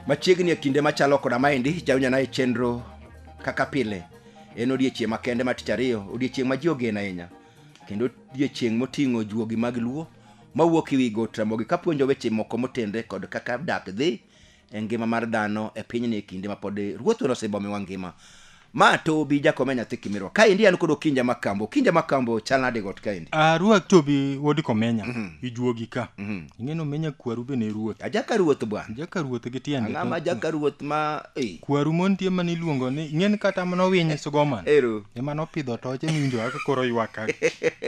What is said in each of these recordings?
machiegni e kinde machalo koda maendi jawinjana e chenro kaka pile en odiechieng' makende ma tich ariyo odiechieng' ma ji ogeno ahinya kendo odiechieng' moting'o juogi mag luo mawuok e wi Got Ramogi kapuonjo weche moko motenre kod kaka dak dhi e ngima mar dhano e pinyni e kinde mapod ruoth wan osebomiwa ngima. Ma Tobi jakome nyathi Kimirwa. Kaendi an kod Okinja Makambo. Okinja Makambo chal nade got kaendi? Ah, ruoth Tobi wuod Komenya, ijuogi ka. Ing'e ni Omenya kwaru be ne ruoth. Ajaka ruoth bwana. Jaka ruoth gi tiende. Ang'ama ajaka ruoth ma ei. kwaru mon tie mane iluongo ni ing'eni kata mane owiny sugoman Ero. ema nopidho toche miwinjo kaka koro ywak ka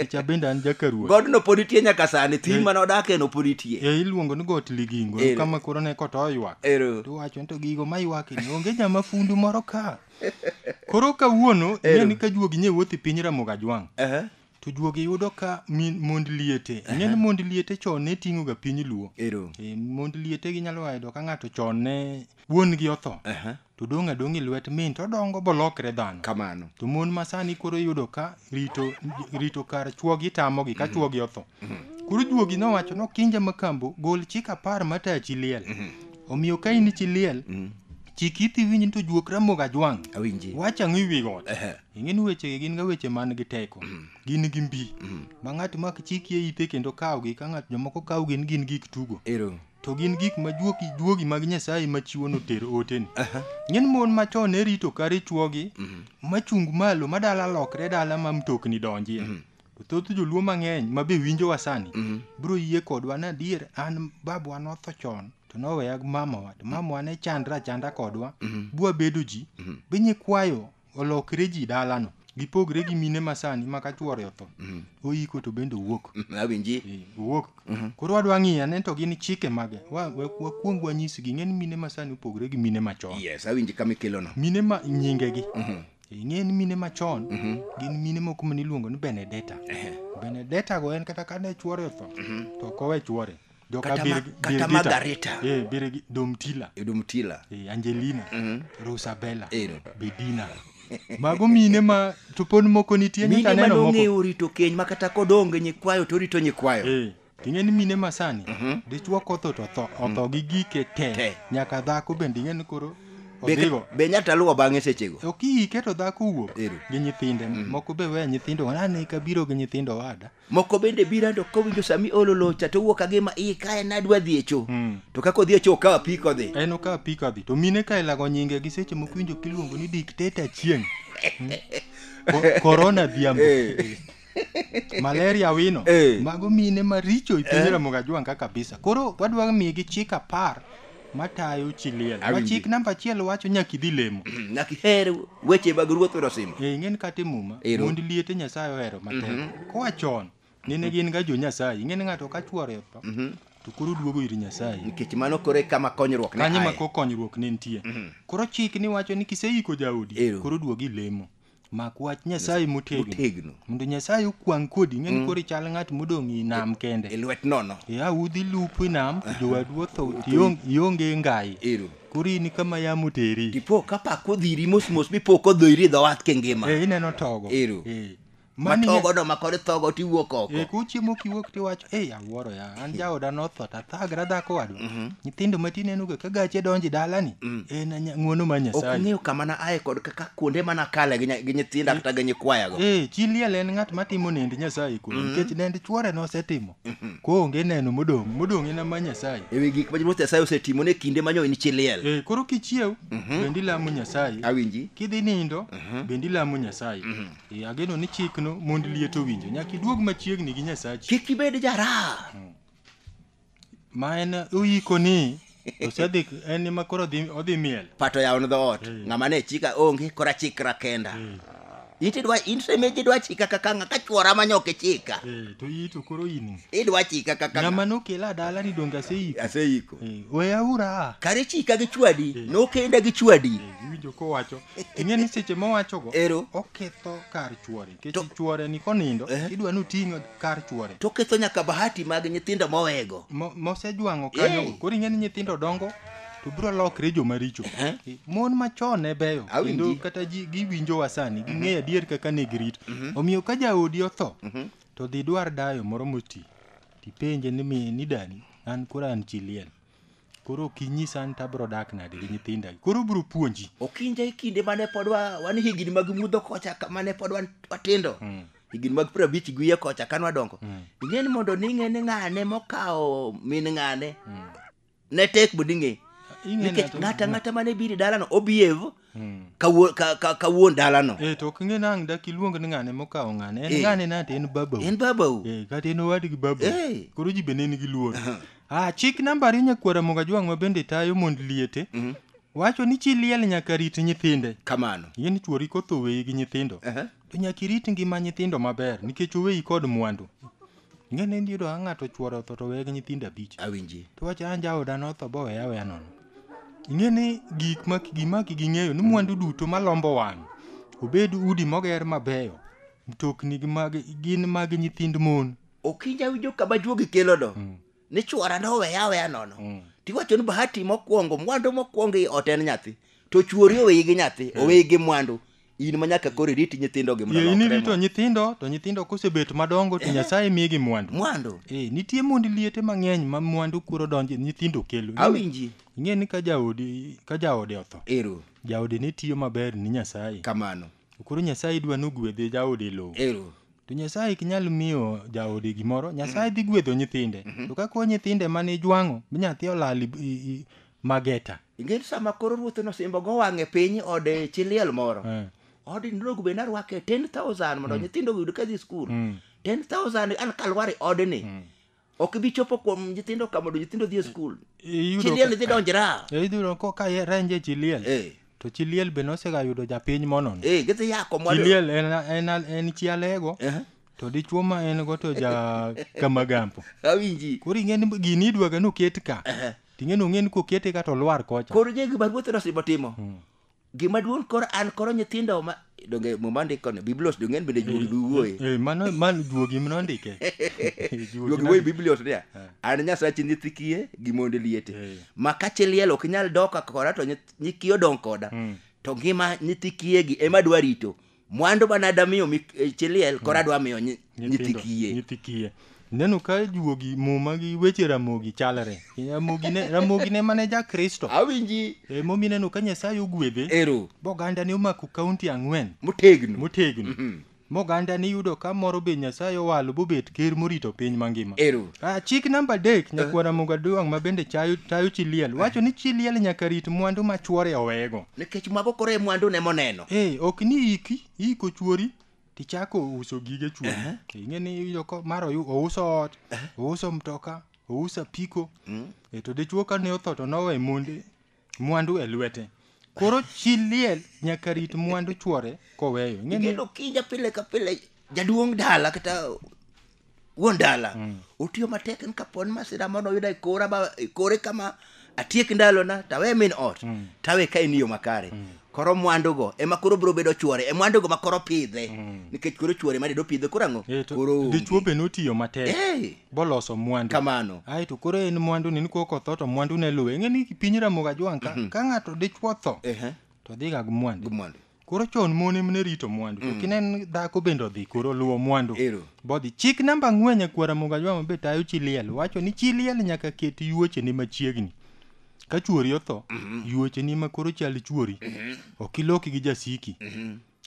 kicha bende an jakaruoth Godno pod nitie nyaka sani, thim Eh. mane odakie no pod nitie. e iluongo ni got ligingo Ero. kama koro ne koto ywak Ero. tiwacho ni to gigo ma ywakni onge jama fundu moro ka koro kawuono Ero. ing'eni ka juogi nye wuoth i piny ramoga jwang' Aha. to juogi yudo ka min- mond liete ing'e ni mond liete chon ne ting'o ga piny luo Ero. e, mond liete ginyalo yudo ka ng'ato chon ne wuon gi otho Aha. to dong' adong' e lwet min to odongo bolokre dhano Kamano. to mon masani koro iyudo ka rito rito kar chuogi tamogi ka chuogi otho koro juogi nowacho nokinja makambo gol chik apar mataya chi liel omiyo ka in chi liel chik ithi winj ni to juok ramoga jwang' Awinji. wach ang'o iwi got Ehe. ing'e ni wechegi gin ga weche man gi teko gin gi mbi ma ng'ato mak chikie ite kendo kawgi ka ng'ato jomoko kaw gin gin gik tugo ero to gin gik ma juogi juogi mag nyasaye ma chiwo noter oteni ng'en mon machon ne rito kare chuogi machung malo ma dala lokre dala ma mtokni donjie to thoth joluo mang'eny ma be winjowa sani biro yie kodwa ni adier an babwa notho chon to noweya gi mamawa to mamawa ne chandra chanda kodwa bwa bedo ji be nyikwayo olokre ji dalano gipogre gi mine masani ma ka chwore otho mm. oyiko to bende owuok mm, awinji eh, owuok mm-hmm. koro wadwa ng'iyo ane to gin chike mage wakuong wanyisgi ng'e ni mine masani opogre gi mine machon yes awinji kama ikelono mine ma nyingegi mm-hmm. eh, ing'e ni mine machon mm-hmm. gin mine moko maniluongo ni benedeta benedeta go en kata kane chwore otho to ok owe chwore Joka Kata ma- Bir- kata Birgita. Margarita. Eh, Birgi- Domtila. Domtila. Eh, Angelina. Rosabella. Ero. Bedina. Mago mine ma to pod moko nitie mine nyaka ma neno moko. nong'eyo rito keny ma kata kodonge nyikwayo to orito nyikwayo Eh, ting'e ni mine masani dichwo kotho to tho otho gi gike te Te. nyaka dhako bende ing'e ni koro Be- odhigo be nyata luwo bang'e sechego ok iike to dhako wuok Ero. gi nyithinde moko be weya nyithindo nane kabiro gi nyithindo wada moko bende bira to kowinjo sama iolo locha to owuok agima iye kae nadwa dhi e cho Mm. to kaka odhi e cho okawo apiko odhi en okawo apiko adhi to mine ka ilago nyinge gi seche moko winjo kiluongo ni dikteta chieng' Mm. Ko- korona dhiambo Eh. malaria wino Eh. mago mine maricho ipinyramoga jwanga kabisa koro wadwa migi chik apar matayo chi liel Awinji. machik namba achiel wacho nyaka idhi lemo nyaka iher weche mag ruoth mondo osim e ing'eni kata e muma Ero. mond liete nyasaye ohero matek koa chon nene gin ga jo nyasaye ing'eni ng'ato ka chwore otho to koro duogo ir nyasaye nikech mano koro e kama konyruok ne kanyo aye. ma ko konyruok ne nitie koro chik ni wacho ni kiseiko jaodi Ero. koro duogi lemo mak wach nyasaye motegno Motegno. mondo nyasaye okwang' kodi ing'e ni koro ichal ng'at modong' i nam e kende lwet nono ya udhi lupo i nam to jowadu otho to iong- ionge ngai ero koro in kama yamo teri tipo ka pak odhiri mos mos mipo kodhoiri e dho wath kingima Eh, ineno togo Ero. Eh. Mani nya- matogono makod thogo tiwuok oko Eh, kuchiemo kiwuok tiwacho ei Wuoro ya, an jaoda notho to athagra dhako wadwa. Nyithindo matin en uga ka gache donji dalani. En anya- ng'wono ma ok Nyasaye. ng'eyo kama na aye kod kaka kuonde mana kale gi nya- gi nyithinda kata gi nyikwayago Eh, chi liel en ng'at matimo nend Nyasaye kuno nikech nend chwore nosetimo. Koonge neno modong', modong' en ma Nyasaye. ewi gik ma ruoth nyasaye osetimo ne kinde manyo in chi liel Eh, koro kichiew bende ilamo Nyasaye. awinji Kidhi nindo bende ilamo Nyasaye. Ee, ageno ni chikno mond liet owinjo nyaka iduog machiegni gi nyasachi kik ibed jaraha ma en oyiko ni osedhi en ema koro odhi- odhi miel pato yawon dhoot ng'ama ne chika onge kora chikra kenda intidwa intemeji idwa chika kaka ng'a ka chwora manyoke chika Ee, to iyi to koro in idwa chika kaka ng'ama ng'ama nokela dala ni donge aseyiko aseiko Ee, weyaura kare chika gi chwadi nokenda gi chwadi iwinjo kowacho ing'e ni seche mowachogo Ero. oketho kar chuore To- nikech chuore ni konindo Eh. idwa ni oting'o kar chuore to ketho nyaka bahati mag nyithindo mowego Mo- mosejwang'o kanyo Eh. koro ing'e ni nyithindo dongo to biro lokre joma richo Eh. mon machon ne beyo Awinji. kendo kata ji giwinjowa sani ging'eyo adier kaka ne girito omiyo ka jaodi otho to dhi dwar dayo moro moti tipenje ni mi ni dani an koro an chi liel Koro ok inyisa an to abiro dak nade gi nyithinda. Koro ubiro puonji. Okinja e kinde mane pod wa, wan higni mag mudho kocha ka- mane pod wan watindo Mm. higni mag piero abich gi wiye kocha kane wadongo Mm. ing'e ni mondo ning'e ni ng'ane mokawo min ng'ane Mm. ne tek mondo ing'e Ing'e nikech ng'ato- ng'ata ng'ata mane biro e dalano obiev Hmm. ka wuo- ka- ka- ka wuon dalano Eh, to ok ing'e nang' dak iluong ni ng'ane mokawo ng'ane en Eh. ng'ane na to en babau en babau Eh, kata en owadgi babau Eh. koro ji bende en gi luor ah, chik namba ariyo nyakwara mogajwang' ma bende tayo mond liete wacho ni chi liel nyaka rit nyithinde kamano yien chuori kotho weyi gi nyithindo Aha. to nyaka irit ngima nyithindo maber nikech oweyi kod mwandu Ing'e ni nitie odwa ng'ato chwore otho to weye gi nyithindo abich. Awinji. To wacha an jaoda notho bo weya weya nono. Ing'e ni gik ma gima ging'eyo ni mwandu duto malombo wang'. Obed udi moger mabeyo, mtokni gi mag gin mag nyithind mon. Okinja winjo kama juogi kelono. ni chwora noweya aweya nono mm. tiwacho ni bahati mokwongo mwandu mokwongo i ot en nyathi to chwori oweyi gi nyathi mm. oweyi gi mwandu in ma nyaka koro iriti nyithindo gi mwandu in irito nyithindo to nyithindo kosebet madongo to eh. nyasaye migi mwandu mwandu eh nitie mond liete mang'eny ma mwandu kuro donje nyithindo kelo awinji ing'e ni ka jaodi ka jaode otho ero jaode ne tiyo maber ni nyasaye kamano To koro Nyasaye dwa ni ogwedhe jaode e lowo. Ero. To Nyasaye ok nyal miyo jaode gimoro. Nyasaye dhi gwedho nyithinde. To ka koro nyithinde mane ijwang'o, mi nyathi olal i- i- i- mageta. Ing'eyo sama koro ruoth nosimbo go wang'e piny ode chi liel moro. Eh. Odi ndrogo be narwake 10,000 mondo nyithindo oyud ka dhi skul. Mm. 10,000 an kalwar e odni. ok ibi chopo kuom nyithindo ka mondo nyithindo dhi e skul Iyudo chiliel ka- idhi donjra e iyudo ko ka ye- renje chi liel Eh. to chi liel be nosega yudo japiny monono ee gidhi yako chi liel en, en, en chi alego Eh. to dichuo ma en go to ja kamagampo awinji koro ing'e ni gini idwaga noket ka ting'e nong'e ni kokete ka to lwar kocha koro je gima ruoth nosimo timo Gima duong' koro an koro nyithindo ma donge muma ndiko ni biblos donge en bende juogi duwuoye. Eh, mano mano duogi mno ndike. Duogi wuoye biblos niya. An nyasachi nyithi kiye gi mond liete. Eh. Ma ka chi liel ok nyal doka koda to nyith- nyi kiye odong' koda. To ngima nyithi kiyegi ema adwa rito. mwandu mane adwa miyo mik- eh, chi liel koro adwa miyo nyi- nyithi Nyithindo, kiye nyithi kiye ineno ka juogi muma gi weche ramogi chalre ramogi ne, ramogi ne mane ja kristo awinji e, momi ineno ka nyasaye ogwedhe ero boganda ne omako kaunti ang'wen motegno motegno Mhm. moganda ni yudo ka moro be nyasaye owalo bobet ker morito piny mangima ero Ah, chik namba adek nyakwara mogaduong' ma bende chayo- tayo chi liel wacho ni chi liel nyaka rit mwandu ma chwore owego nikech mago koro e mwandu ne moneno eh, ok ni iki iko chuori tichako uso gige chuo uh-huh. ing'e ni iyudo ko mar ouso ot uh-huh. ouso mtoka ouso apiko mm. e to dichuo ka ne otho to nowe monde mwandu e lwete koro chi liel nyaka rit mwandu chuore koweyo ing'e ni kendo kinja pile ka pile jaduong' dala kata wuon dala otiyo matek ni kapon masira mono oyuda e kora ba e kore kama atiek ndalona tawe min ot tawe ka en yo makare koro mwandugo ema koro biro bedo chwore e mwandugo ma koro pidhe nikech koro chwore ma dedo pidhe koro ang'o Eh, to koro onge. dichwo be notiyo matek Eh, boloso mwandu kamano ae to koro en mwandu ni nikok otho to mwandu ne luwe ng'e ni piny ramoga jwang' ka, ka ng'ato dichwo tho Ehe, to dhiga gi mwandu gi mwandu koro chon mon em ne rito mwandu to kinen dhako bende odhi koro luwo mwandu Ero. bodhi chik namba ang'wen nyakwara mugajwa mabe tayo chi liel wacho ni chi liel nyaka ket yuochene machiegni ka chuori otho yuocheni ma koro chal chuori ok iloki gi jasiki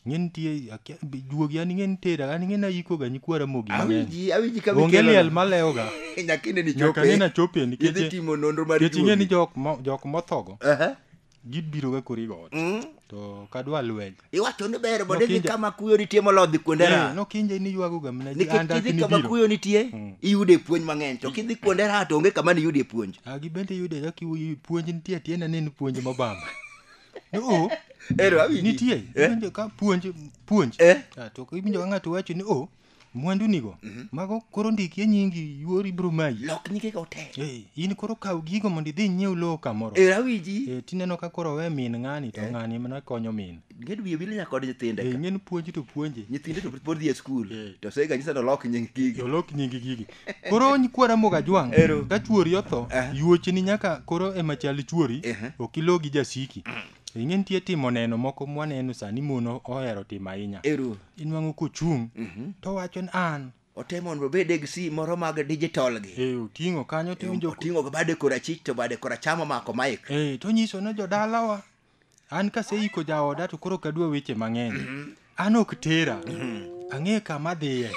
ng'e nitie akia- juogi an ng'e nitera an ng'e nayikoga nyikwara mogi mang'eny awinji awinji ka onge mikelo- liel malewoga nyaka ine ni nyaka chope. nena chopie Idhi nikech timo nonro mar nikech ing'e ni juogi. jok mo- jok mothogo Aha. gibiro ga kori god Mm. to kadwa lweny iwacho ni ber mondo idhi Nokinja- kama kuyo nitie moloyo dhi kuonde Eh, ra nokinje ni ywago ga mna ji nikech anda kidhi kama kinibiro kuyo nitie Mm. iyude puonj mang'eny to kidhi kuonde ra to onge kama niyudie puonj Ah, gibende yude ka kiwuoyo puonj nitie atie na nen puonj mobamba no ero awinji nitie Eh? iwinjo ka puonj puonj Eh? Ah, to iwinjo ka ng'ato wacho ni o mwandu nigo mhm. mago koro ndiki e nyingi yuori ibro mayi lok nyige go te eh in koro kaw gigo mondo idhi nyiew lowo kamoro e rawiji eh tineno ka koro we min ng'ani to eh. ng'ani mana konyo min nged wiye wile nyaka kod nyithinde eh ng'en puonji to puonje nyithinde to pod dhi e skul eh. to sega nyisa to lok nying gigi to lok nying gigi koro nyikwara moga jwang ka chuori otho eh. yuoche ni nyaka koro ema chal chuori ok ilo gi jasiki mm. ing'e nitie timo neno moko mwaneno sani mon ohero timo ahinya inwang'o kochung' mhm. to wacho ni an otemo mondo obed gi si moro mag digital gi eh, oting'o kanyo tiwinjo oting'o ga bade korachich to bade koracham omako maik eh, to nyiso ne jodalawa an kaseiko jaoda to koro kadwa weche mang'eny mhm. an ok tera mhm. ang'e kama dhiye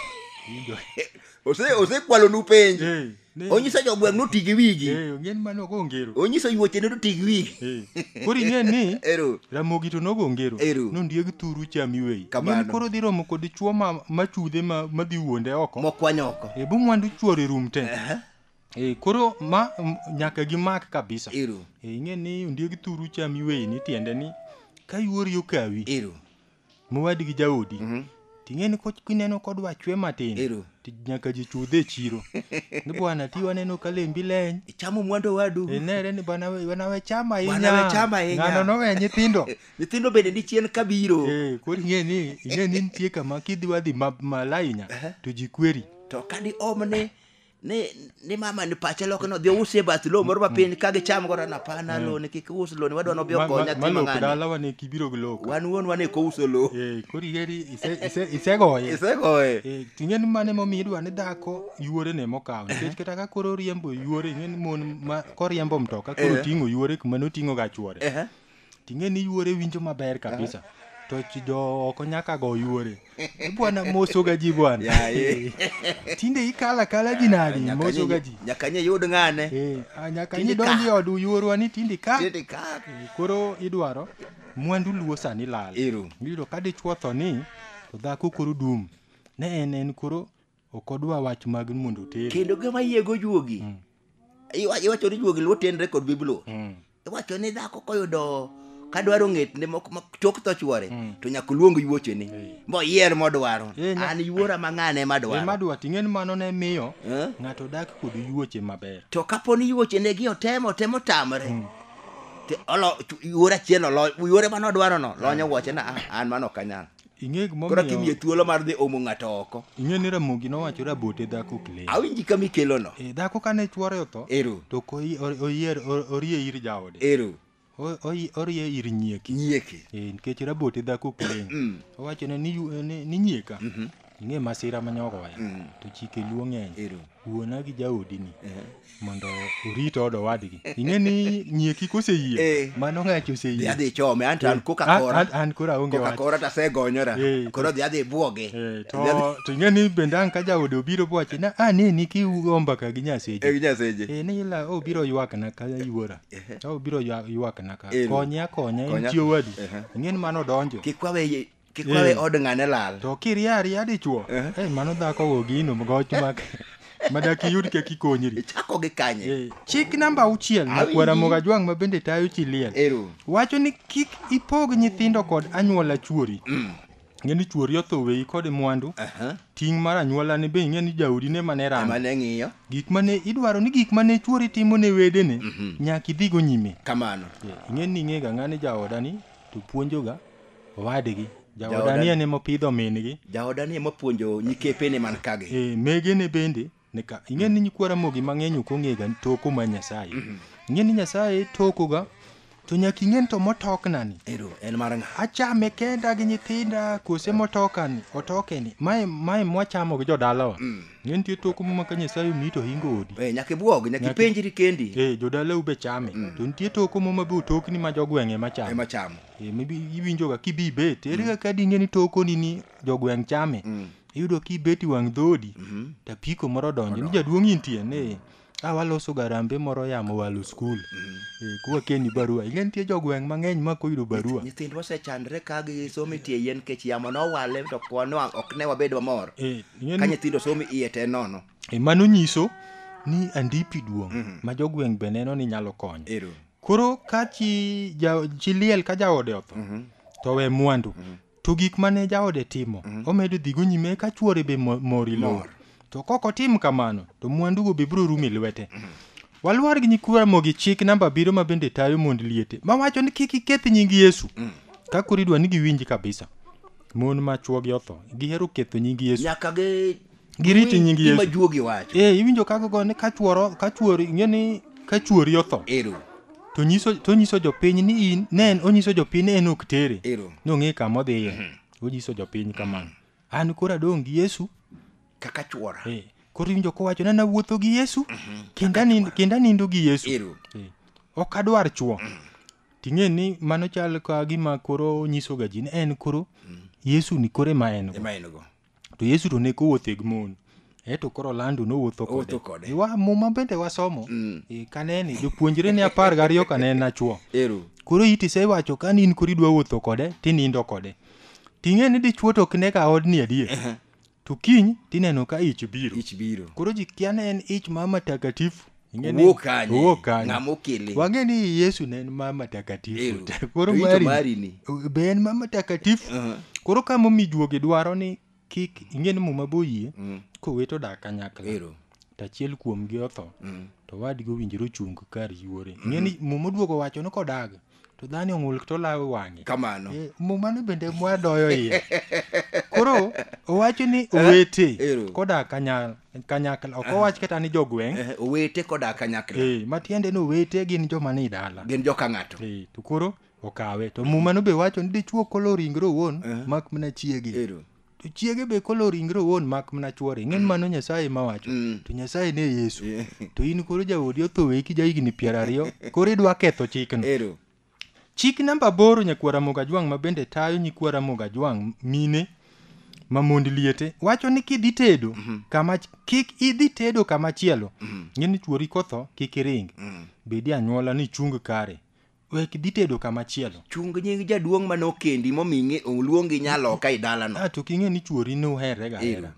osekwalonu penj eh. Ne- onyiso jogweng' noti gi wigi Eh, ong'en mano ogo ngero onyiso yuoche ne noti gi wigi Eh, koro ing'e ni ero ramogi to nogo ngero Ero. nondieg thuru cham iweyi Kamano. Ng'eni koro dhi romo kod chuo ma- machudhe ma- madhi wuonde oko mokwanyo oko Eh, bo mwandu chuor e rum te Aha, Eh, koro ma m- nyaka gimak kabisa ero Eh, ing'e ni ondieg thuru cham iweyi ni tiende ni ka yuori okawi ero mowadgi jaodi Mhm. ting'e ni ko- kineno kodwa chwe matin Ero. ti- nyaka ji chudhe e chiro ni bwana ti waneno ka lembi leny ichamo mwandu wadu inere ni bwana we- bwana we chama ahinya Bwana we chama ahinya. ng'ano nowe nyithindo nyithindo bende ni chien kabiro Eh, koro ing'e ni ing'e ni nitie kama kidhi wadhi ma- malainya to ji kweri to kadi omne ni ni mama ni pache loko no dhi usie bath lowo moro mapiny ka gicham godo na pana lowo ni kik us lowo ni wadwa nobi Ma- okonya ma- ma lok dala wane kibiro gi lok wan wuon wane ko uso lowo Eh, koro igeri ise- ise- isegoye isegoye Eh, ting'e ni mane momiyo idwa ni dhako yuore ne mokawo nikech kata ka koro oriembo yuore ing'e ni mon ma koriembo mtoka koro Eh. ting'o yuore kuma noting'o ga chuore Ehe. ting'e ni yuore winjo maber kabisa to chi jo oko nyaka go yuore Eh, bwana mosoga ji bwana Yaye. tinde ikala kala ji nadi Nyaka mosoga nye- ji nyaka nye yud ng'ane Eh, ah, nyaka Tinde idonji ka. od yuorwa ni tinde ka Tinde ka. Eh, koro idwaro mwandu luo sani lal Ero. iyudo ka dichwo tho ni to dhako koro dum ne en en koro Ok odwa wach mag ni mondo otere. kendo gima yiego juogi Iwa- iwacho ni juogi luo tenre kod bibluo Mm. iwacho ni dhako koyudo kadwaro ng'etne mok- ma chok tho chwore to nyaka oluong yuochene Eh. moyier modwaro Eh, nya- an yuora ma ng'ane Ema madwaro dwa ting'e ni mano ne miyo Eh? ng'ato dak kod yuoche maber. to kapo ni yuochene gi otemo temo tamre to olo- chu- yuora achiel olo- yuore mane odwarono lonyo wuochena "Ah, an mano ok anyal Ing'e gimomiyo. Koro kimiye thuolo mar dhi omo ng'ato oko. Ing'e ni Ramogi nowacho rabote dhako ok lem. Awinji kama ikelono. E, dhako kane chwore otho. Ero. To oyier orie ir jaode. Ero. Orie ir nyieki. Nyieki. E, nikech rabote dhako ok lem. Mm. Owacho ni, ni, ni nyieka. Mm -hmm. Ing'e masira manyogoya. Mm. To chike luo ng'eny. Ero. wuona gi jaodini mondo orit od owadgi ing'e ni nyieki koseyie Eh. mano ng'achi dhi oseyie adhi chome anto an koka An- kora an- an koro aonge koka wach kora to asegonyora Eh. koro dhi adhi bwoge Eh, to Dhi adhi- to ing'e ni bende ang' ka jaode obiro bwachi na a ne ni kiugo mbaka gi nyaseche Eh, nyaseche Eh, ni ila obiro ywakna ka yuora to obiro ywa- ywakna ka Eh. konya konya en Konya. chi owadu Ehe. ing'e ni mano donjo kik wawe Kik wawe od ng'ane lal. To kiria aria dichuo. Eh mano dhako go gino goch mak. Madak iyud kek ikonyri. Ichako gi kanye? Eh, chik namba auchiel ma Awinji. kwara moga jwang' ma bende tayo chi liel. Ero. Wacho ni kik ipog nyithindo kod anyuola chuori. Ng'e ni chuori otho weyi kod mwandu. Aha. Ting' mar anyuola ni be ing'e ni jaodi ne mane Ema ramo. ne ng'iyo. Gik mane idwaro ni gik mane chuori timo ne wedene nyaka idhigo nyime. Kamano. Eh, Ing'e ni ing'ega ng'ani jaoda ni to puonjoga owadgi jaoda Jaoda- ni en ema opidho min-gi jaoda ni ema puonjo nyikepene man kagi e, megene bende nika ing'e ni nyikwa ramogi mang'eny ok ong'ega toko ma nyasaye ing'e ni nyasaye tokoga to nyaka ing'e ni to motoknani ero en mar ng'a achame kenda gi nyithinda kose motokani otokeni mae mae mwachamo gi jodalawa ing'e nitie toko ma ka nyasaye omi to hingo odi Eh, nyaka ibwog nyaka Nyaka- ipenjri kendi e jodalau be chame to nitie toko moma be otokni ma jogweng'e machame ema chamo Eh, maybe iwinjoga kibi ibet ere kaka dinge ni tokoni ni jogweng' chame iyudo kibet i wang' dhodi to apiko moro donjo ni jaduong' intie ni a waloso garambe moro yamo walo skul Eh, kuwakeni barua ing'e nitie jogweng' mang'eny ma koyudo barua nyithindwa osechandre ka gisomo itie yien nikech yamo nowale to kwan wang' ok ne wabed mamor Eh, ing'e ka ni- nyithindo somo iye te nono Eh, mano nyiso ni andipi duong' ma jogweng' be neno ni nyalo konyo Ero. Koro ka chi, ja, chi liel ka jaode otho to owe mwandu to gik mane jaode timo omedo dhigo nyime eka chuore be mo- mor e lowo to kok otim kamano to mwandugo be biro rumo e lwete walwar gi nyikwa Ramogi chik namba abiriyo ma bende tayo mond liete mawacho ni kik iketh nying Yesu ka koro idwa ni giwinji kabisa mon ma chuogi otho gihero ketho nying Yesu nyaka gi giriti nying Yesu. Gima juogi wacho. Eh, iwinjo kago go ni kachuoro kachuoro ing'e ni kachuori otho. Ero. To nyiso to nyiso jopiny ni in ne en onyiso jopiny en ok tere. Ero. Nong'e kama odhiye. Mm -hmm. Onyiso jopiny kamano. An kora dong' gi Yesu kaka chuora. Eh. Koro iwinjo kowacho nana wuotho gi Yesu mm -hmm. kenda nindo kenda nindo gi Yesu. Ero. Eh. Ok adwar chuo. Mm -hmm. Ting'e ni mano chal ka gima koro nyiso ga ji ni en koro mm -hmm. Yesu ni kore ma en go. Ema en go. to yesu to ne kowuotho e gi mon eto koro lando nowuotho Owuotho kode. kode Wa- muma bende wasomo Mm. e, kanene jopuonjre ne apar gariyo kanene achuo ero koro iti isewacho ka ni in koro idwa wuotho kode tinindo kode ting'e ni dichuo to ok ne ka odni adier Ehe. to kiny tineno ka ich biro ich biro koro ji kia ne en ich ma matakatifu Ing'e ni- owuok kanye owuok kanye. ng'ama okele wang'e ni yesu ne en mama takatifu Ew. te. To koro ito mari mari ni. be en mama takatifu Uh-huh. koro ka momi juogi dwaro ni kik ing'e ni muma boyie Mm. kowet odak kanyakla Ero. to achiel kuomgi otho Mm. to wadgi owinjore ochung kar yuore ing'e ni muma oduogo wacho ni kodag to dhani ong'ul to lawe wang'e kamano Eh, mumano bende mwadoyo iye koro owacho ni owete Ero. koda kanya- kanyakla ok owach kata ni jogweng' Eh, owete koda kanyakla Eh, matiende ni owete gin joma ni dala gin joka ng'ato Eh, to koro okawe to mumano be wacho ni dichuo kolo ringre owuon mak mana chiege ero to chiege be kolo ringre owuon mak mana chwore ing'e ni mano nyasaye ma wacho to nyasaye ne yesu Yeah. to in koro jaodi otho weki ja higni piero ariyo koro idwa ketho chikno Ero. chik namba aboro nyakwar Ramogi Ajwang' ma bende tayo nyikwar Ramogi Ajwang' mine ma mond liete wacho ni kidhi tedo kama kik idhi tedo kama chielo ng'e ni chuori kotho kik iring bedi anyuola ni chung kare Wek dhi tedo kama chielo. Chung nying jaduong' ma nokendi momiyi oluongi nyaloka e dalano. Ah, to king'e ni chuori ne uherre ga Ero. hera.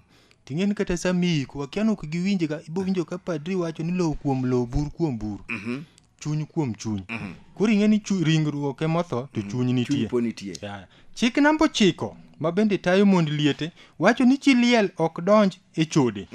Ting'e ni kata sama iiko, akia nok giwinje ga, ibo winjo ka padri wacho ni lowo kuom lowo, bur kuom bur. Chuny kuom chuny. Koro ing'e ni chu- ringruok ema otho to chuny nitie. Chuny po nitie. Ya. Chik namba ochiko ma bende tayo mond liete wacho ni chi liel ok donj e chode.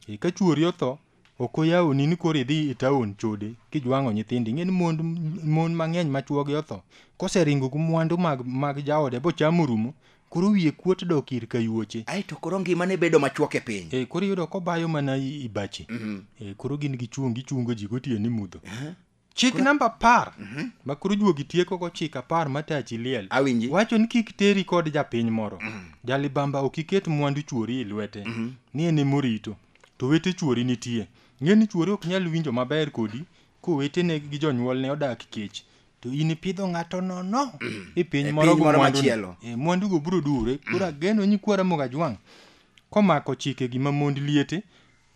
E ka chuori otho Ok oyawoni ni koro idhi e taon chode kijwang'o nyithindi. Ing'e ni mond mon mang'eny ma chwogi otho koseringo gi mwandu mag mag jaode bochamo orumo koro wiye kuot dok ir kayuoche. Ai to koro ngimane bedo machuok e piny. E, koro iyudo kobayo mana i- ibache. E, koro gin gichung' gichungo ji gotieno ni mudho. Chik namba apar ma koro juogi tieko go chik apar ma tachi liel. Awinji. Wacho ni kik teri kod japiny moro. Jalibamba ok iket mwandu chuori e lwete. Ni en ema orito. To wete chuori nitie. Ng'e ni chuori ok nyal winjo maber kodi kowetene gi jonyuolne odak kech. To in ipidho ng'ato nono e piny E moro piny go moro mwandu. machielo. E, mwandu go biro dure. Koro ageno nyikwa Ramogi Ajwang' komako chike gi ma mond liete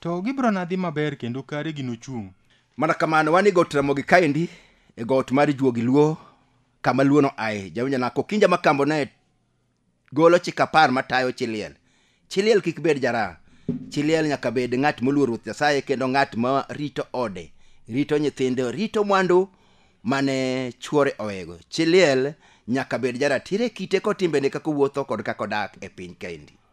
to gibiro na dhi maber kendo kare gino chung'. Mana kamano wan e got Ramogi kaendi e got mar Juogi Luo kama Luono ae jawinja nako kinja makambo ne golo chik apar matayo chiliel. Chiliel kik bed jara. Chiliel nyaka bed ng'at moluor Ruoth Nyasaye kendo ng'at ma rito ode, rito nyithinde, rito mwandu mane chuore owego. Chiliel nyaka bed jaratiro e kite kod timbene kaka owuotho kod kaka odak e piny kaendi.